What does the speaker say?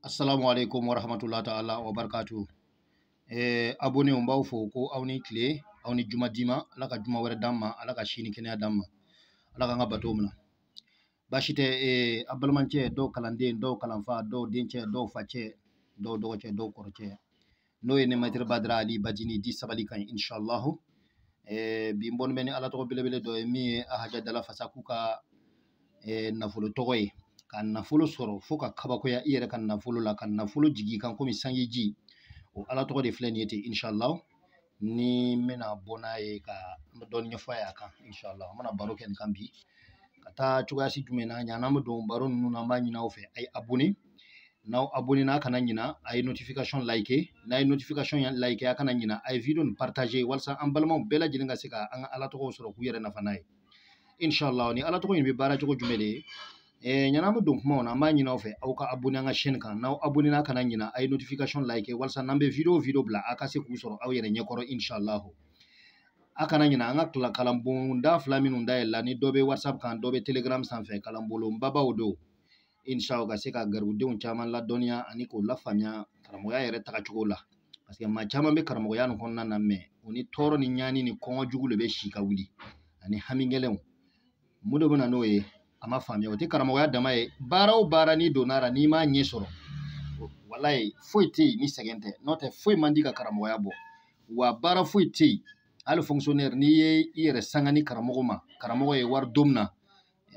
assalamu alaikum wa rahmatullahi ta'ala wa barakatuh eh abonnéw n b'aw fo ko aw ni kile aw ni juma diman ala ka juma wɛrɛ d'an ma ala ka sini kɛnɛya d'an ma ala k'an ka bato minɛ baasi tɛ eh, a balimacɛ don aw kalanden don aw kalanfa don aw dencɛ don aw facɛ don aw dɔgɔcɛ don aw kɔrɔcɛ n'o ye ne maître badara ali bajini dit sabali kan inshallah eh, bi n bɔnen bɛ ni ala tɔgɔ belebele dɔ ye min ye ahaja dala fasaku ka eh, nafolo tɔgɔ ye ka nafolo sɔrɔ fo ka kabakoya i yɛrɛ ka nafolo la ka nafolo jigin i kan komi sanji ji o ala tɔgɔ de filɛ nin ye ten inshallah ni n bɛna bɔ n'a ye ka dɔɔni ɲɛfɔ a y'a kan inshallah an bɛna baro kɛ nin kan bi ka taa cogoya si jumɛn na ɲan'an bɛ don baro ninnu na an b'a ɲini aw fɛ a ye abonné n'aw abonné na kana ɲina a ye notification like n'a ye notification like a kana ɲina a ye video nin partager walasa an balimaw bɛɛ lajɛlen ka se ka an ka ala tɔgɔw sɔrɔ k'u yɛrɛ nafa n'a ye inshallah ni ala tɔgɔ in bɛ baara cogo jumɛn de ye eh, ɲan'an bɛ don kumaw na an b'a ɲini aw fɛ aw ka abonné an ka chaîne kan n'aw abonné na kana ɲina a ye notification like walasa n'an bɛ video video bila a ka se k'u sɔrɔ aw yɛrɛ ɲɛkɔrɔ inshallah a kana ɲina an ka kalan kalanbonda fila minnu dayɛlɛla ni dɔ bɛ whatsapp kan dɔ bɛ telegram sanfɛ kalanbolo babaw don inshallah ka se ka garibudenw caman ladɔnniya ani k'u lafaamuya karamɔgɔya yɛrɛ tagacogo la parce que maa caman bɛ karamɔgɔya nin kɔnɔna na mais u ni tɔɔrɔ ni ɲani ni kɔngɔ jugu de bɛ si ka wuli ani hami gɛlɛnw mun de bɛ na n'o ye a ma faamuya o tɛ karamɔgɔya dama ye baara o baara n'i donna la n'i m'a ɲɛ sɔrɔ walayi foyi tɛ yen ni sɛgɛn tɛ n'o tɛ foyi man di ka karamɔgɔya bɔ wa baara foyi tɛ yen hali fonctionnaire n'i ye i yɛrɛ sanga ni karamɔgɔ ma karamɔgɔ ye wari don min na